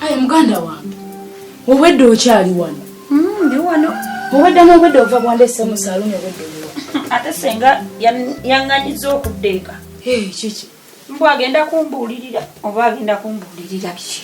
Aye muganda wange obwedda okyali wano hmm, ndi wano obwedda n'obwedda ova bwandese mu saluuni obwedda oliwa ate senga yaŋŋanyiza okudda eka kiki mbu agenda kumbuulirira oba agenda kumbuulirira biki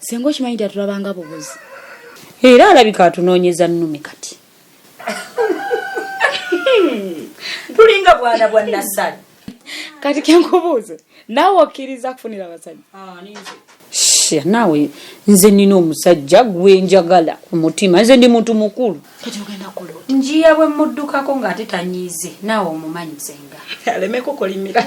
Senga okimanyi nti atulabanga bubuzi. Era alabika atunoonyeza nnume kati. Tulinga bwana bwa Nassali. Kati kenkubuuze naawe okkiriza kufunira abasajja? Ah, Shia naawe nze nnina omusajja gwe njagala ku mutima nze ndi muntu mukulu. Kati ogenda kulo. Njiya bwe muddukako ng'ate tanyiize naawe omumanyi senga. Aleme kukolimira.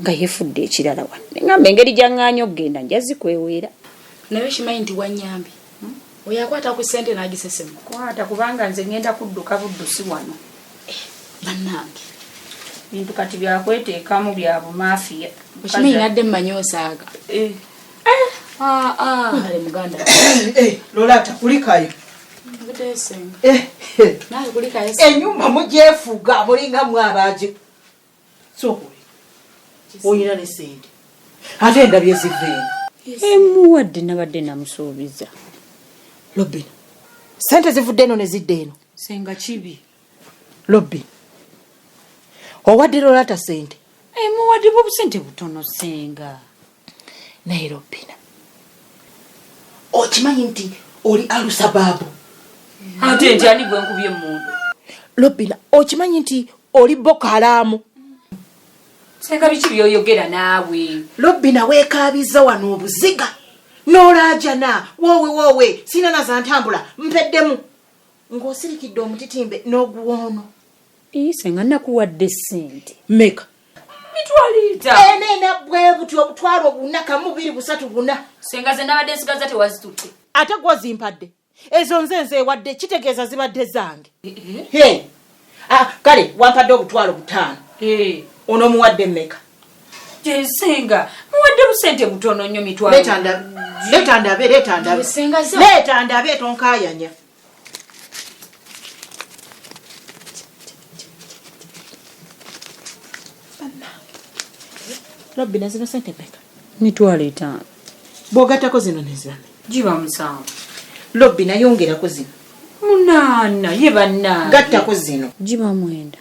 nga yefudde ekirala wano neŋamba engeri gyaŋŋaanya okugenda nja zikweweera naye okimanyi nti wanyambi hmm? oyo akwata ku ssente n'agisesemu kwata kubanga nze ŋŋenda kudduka buddusi wano eh, bannange bintu kati byakweteekamu bya bumafiya okimanyi nadde mmanyi osaaga eh. Eh, ah, ah. ale muganda lolata kulikayo enyumba mugyefuga mulinga mwabaji olina ne sente ate endabye ziveemu emuwadde nabadde namusuubiza lobina sente zivudde eno ne zidda eno senga kibi lobbi owadde lolata sente emuwadde bobusente butono senga naye robina okimanyi nti oli alusabaabu ate nti ani gwe nkubye emundu robina okimanyi nti oli bokalaamu senga biki byoyogera naawe robina wekaabiza wano obuziga nolaajana woowe woowe sina nazantambula mpeddemu ng'osirikidde omutitimbe n'oguwoono ii senga nakuwadde sente meka ena ena bwebuti obutwalo buna kamubiri busatu buna senga ze nabadde nsigaza tewazitutte ate gwozimpadde ezo nze nze ewadde kitegeeza zibadde zange ah, kale wampadde obutwalo butaano ono omuwadde mmeka jensenga muwadde busente butono nnyo mitwalo leeta ndabe leeta ndabe leeta ndabe tonkayanya lobbi nazino sente peka mitwalo etaano bwogattako zino nezirame giba musanvu lobbi nayongerako zino munaana ye banna gattako zino giba mwenda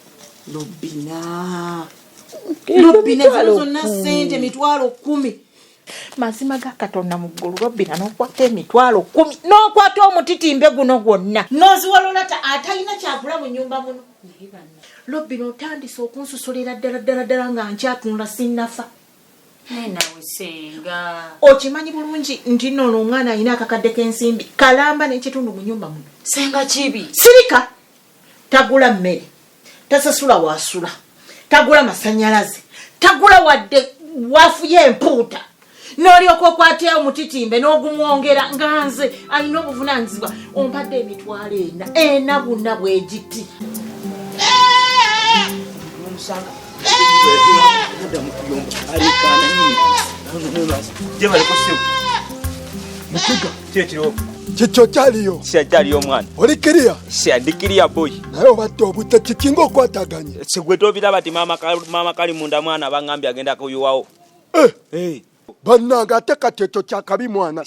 lobbina lobbina zino zonna sente mitwalo kumi mazima ga katonda mu ggulu lobbina n'okwata emitwalo kumi n'okwata omutitimbe guno gwonna n'oziwalolata atalina kyagula mu nyumba muno lobbina otandise okunsusulira ddala ddala ddala nga nkyatunula sinnafa okimanyi bulungi nti noono omwana alina akakadde k'ensimbi kalamba n'ekitundu mu nyumba muno senga kibi sirika tagula mmere tasasula wasula tagula masanyalaze tagula wadde wafuye empuuta nolyoka okwatya omutitimbe nogumwongera nga nze alina obuvunanyizibwa ompadde emitwalo ena ena buna bwegiti kikyo kyaliyo kyaliyo omwana oli kiriya ndi kiriya boy naye obadde obudde kikinga okwataganye sigwe tobiraba ti maama kali munda mwana abangambye agenda kuyuwawo eh. eh. bannange ate kati ekyo kyakabi mwana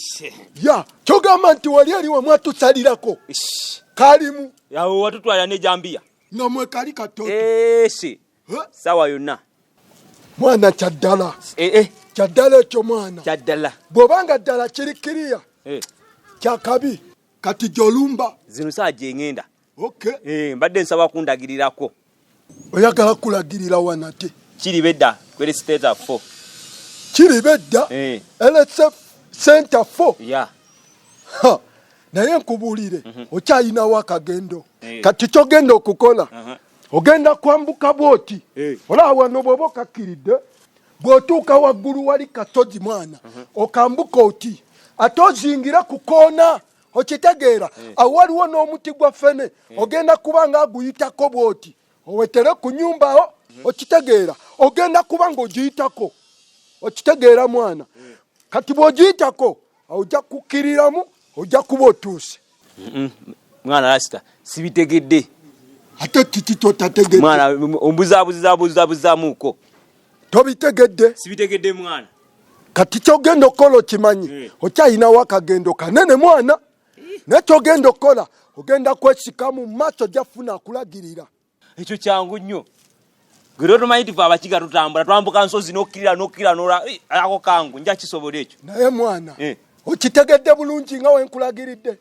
ya kyogamba nti wali aliwo mwatusalirako kalimu awo watutwala nejambiya nga mwekali katoto eh, si sawa yonna mwana kyaddala eh, eh. kyaddala ekyo mwana kyaddala bwobanga ddala kiri kiriya kyakabi kati gyolumba zino saa gyengenda mbadde nsaba kundagirirako oyagala kulagirira wanate kiri bedda kwere siteta fo kiri bedda elese senta fo naye nkubuulire mhm. okyalinawo akagendo eh. kati kyogenda okukola ogenda kwambuka bwoti eh. olaba wano bwoba okakkiridde bw'otuuka waggulu wali kasozi mwana mhm. okambuka oti ate ozingira ku koona okitegeera eh. awo waliwo n'omuti gwa fene ogenda kuba nga aguyitako bwoti owetere ku nyumbawo mhm. okitegeera ogenda kuba nga ogiyitako okitegeera mwana kati bw'ogiyitako ojja kukkiriramu ojja kuba otuuse mwana lasita sibitegedde ate kiki kyotategedde mwana ombuzabuzizabuzabuzamuko tobitegedde sibitegedde mwana kati kyogenda okukola okimanyi eh. okyayinawo akagendo kanene mwana naye kyogenda okukola ogenda kwesika mu maaso gyafuna akulagirira ekyo kyangu nnyo gero tomanyi tife abakiga tutambula twambuka nsozi nokkirira nokkirira nola eh, ako kangu nja kisobola ekyo naye mwana eh. okitegedde bulungi nga wenkulagiridde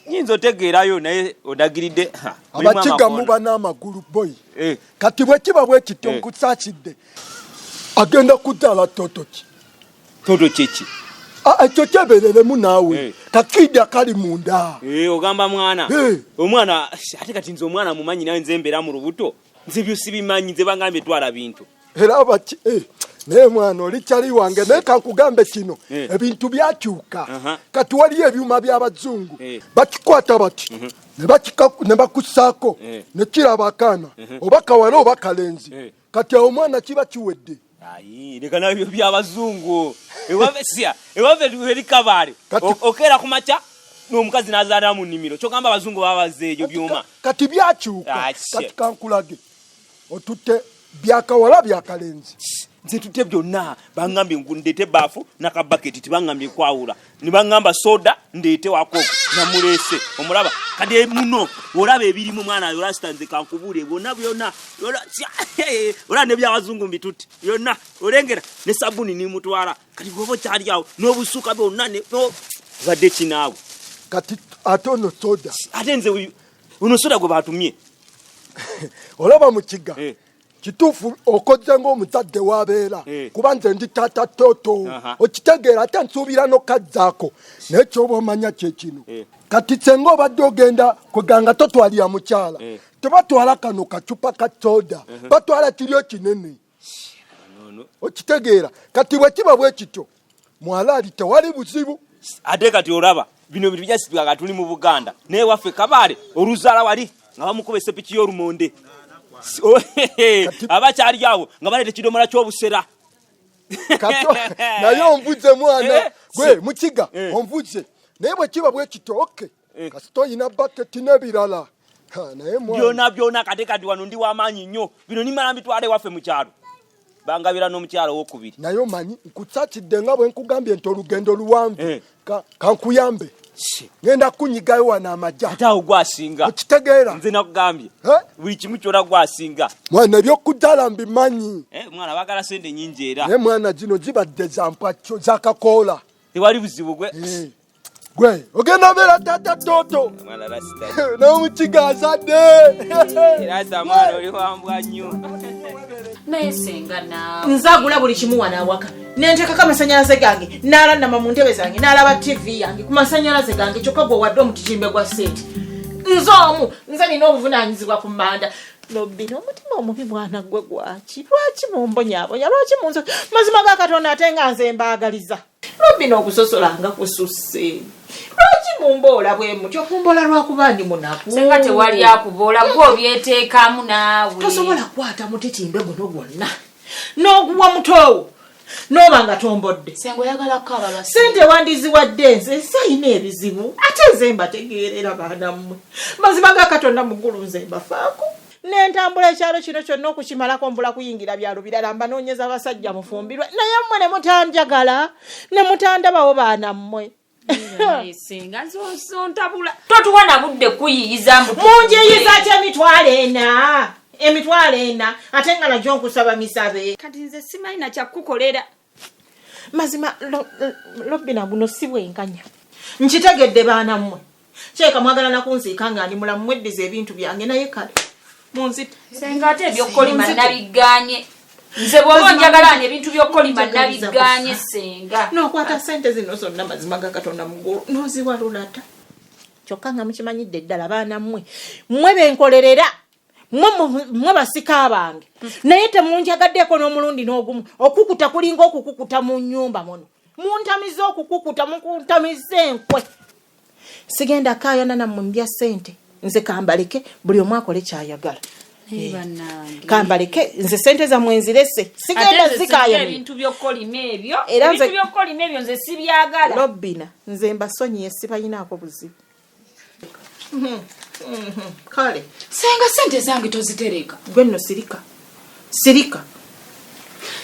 nyinza otegeerayo naye odagiridde abakiga muba n'amagulu boyi eh. kati bwekiba bwekityo nkusakidde agenda kuzaala totoki Toto kyeki? Ah, ah, ekyo kyebereremu naawe eh. kakidi akali munda eh, ogamba mwana eh. omwana ate kati nze omwana mumanyi nawe nze mbeera mu lubuto nze byo sibimanyi nze bangambye twala bintu era baki naye mwana oli kyali wange naye kankugambe kino ebintu byakyuka kati waliyo ebyuma by'abazungu bakikwata bati mhm. ne bakusaako ne kiraba akaana mhm. oba kawala oba kalenzi kati awo omwana kiba kiwedde Ayi, leka nabyo byabazungu ewave sia ewave eri kabale okera kumaca n'omukazi n'azaala mu nnimiro kyogamba abazungu babaze ebyo byuma kati byakyuka ah, kati kankulage otutte byakawala byakalenzi nze tutte byonna bangambye ndeete baafu nakabaketi tibangambye kwawula nibaŋŋamba soda ndeete wako namuleese omulaba kade muno olaba ebirimu mwana yo lastanze kankubuule bona byona olaba nebyabazungu mbitutte byonna olengera ne sabuni nimutwala kati goba okyali awo n'obusuuka byonna badde kinaawe kati ate ono soda ate nze uno soda gwe batumye olaba mu kiga eh. kituufu okozze ng'omuzadde wabeera eh. kuba nze ndi taata toto okitegeera ate nsuubira nokazzaako naye kyoba omanya kyekino eh. kati senga obadde ogenda kweganga totwalira mukyala eh. tebatwala kano kacupa ka soda batwala kiryo kinene okitegeera kati bwekiba bwekityo mwalaali tewali buzibu ate kati olaba bino bintu bijasitula nga tuli mu buganda naye waffe kabaale oluzaala wali nga bamukuba esepiki y'olumonde oh, abakyali awo nga baleeta ekidomola ky'obusera naye omvuze mwana eh, gwe mukiga eh. omvuze naye bwe kiba bwekito okay eh. kasita oyina baketi nebirala byona byona kate kati wano ndi wamaanyi nnyo bino nimala mbitwala ewaffe mu kyalo bangabira n'omukyalo owokubiri naye omanyi nkutsakidde nga bwe nkugambye nti olugendo luwanvu eh. kankuyambe ngenda kunyigayo wano amajja ate awo gwasinga okitegeera nze nakugambye eh? buli kimu kyona gwasinga mwana ebyokujala mbimanyi eh, mwana bagala sente nyingi era naye mwana gino zibadde zampwakyo zakakoola tewali buzibu gwe gwe ogenda beera tata toto n'omukiga azadde era zamwana oli wambwa nnyo naye senga naawe nzagula buli kimu wano awaka nenteekako amasanyalaze gange nalanama mu ntebe zange nalaba tivi yange ku masanyalaze gange kyokka gwe wadde omutijimbe gwa seeti nze omu nze nina obuvunanyizibwa ku manda lobbi n'omutima omubi mwana gwe gwaki lwaki mumbonyabonya lwaki munzo mazima ga katonda ate nga nze mbaagaliza Robin okusosola nga kususse lwaki mumboola bwe mutyo mumboola lwakuba ndi munaku singa tewali akuboola gwe obyeteekamu naawe tosobola kukwata mutitimbe guno gwonna n'oguwa mutoowo n'oba nga tombodde sente wandiziwadde nze sayina ebizibu ate nze mbategeerera baana mmwe mazima ga katonda mugulu nze mbafaako nentambula ekyalo kino kyonna okukimalako mbula kuyingira byalo birala mbanoonyeza basajja mufumbirwe naye mmwe ne mutanjagala ne mutandabawo baana mmwe munjiyiza ky emitwalo ena emitwalo ena ate nga najo nkusaba misabe kati nze simanyi nakyakukolera mazima lobina guno si bwenkanya nkitegedde baana mmwe kyeka mwagala nakunziika nga ndi mulamu mweddiza ebintu byange naye kale munzite senga ate ebyokukolima nabigganye nze bwoba njagala nga ebintu byokukolima nabigganye senga nokwata sente zino zonna mazima ga katonda mugulu noziwalulata kyokka nga mukimanyidde ddala baana mmwe mwe benkolerera mwe basika bange naye temunjagaddeeko n'omulundi n'ogumu okukuta kulinga okukukuta mu nyumba muno muntamiza okukukuta mukuntamiza enkwe sigenda kayana nammwe mbya sente nze kambaleke buli omu akole kyayagala eh, kambaleke nze sente zamwe nzirese sigenda zikayaeralobina nze mbasonyiye sibayinaako buzibu Mhm, mhm, kale senga sente zange tozitereka gwe nno sirika sirika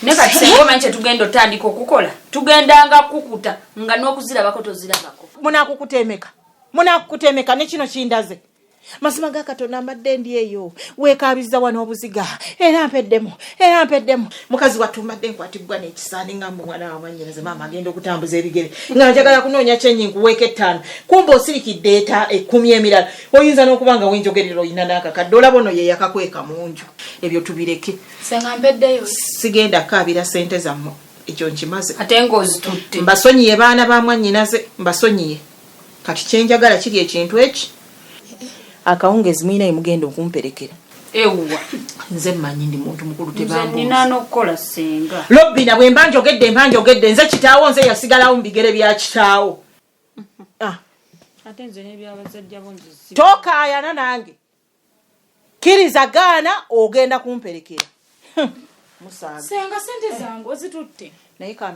naye kati senga omanyi kyetugenda otandika okukola tugendanga kukuta nga n'okuzirabako tozirabako munakukuta emeka munakukuta emeka nekino kindaze mazima ga katonda mbadde ndi eyo weekaabizza wano obuziga era mpeddemu era mpeddemu mukazi wattu mbadde nkwatibbwa n'ekisaani nga mbu mwana wa mwannyinaze maama agenda okutambuza ebigere nga njagala kunoonya kyenyi nkuweeko ettaano kumba osirikidde eta ekkumi emirala oyinza n'okuba nga wenjogerera olina n'akakadde olaba ono ye yakakweka mu nju ebyo tubireke sigenda kaabira ssente zammwe ekyo nkimaze ate ngaozitutte mbasonyiye baana ba mwannyinaze mbasonyiye Kati kyenjagala kiri ekintu eki akawungezi mulina yemugenda okumperekera ewuwa nze manyi ndi muntu mukulu tebambunina nokukola senga lobina bwemba njogedde mba njogedde nze kitaawo nze yasigalawo mu bigere bya kitaawo ah. tokaayana nange kiriza gaana ogenda kumperekera musangasenga sente zange ozitutte naye kambe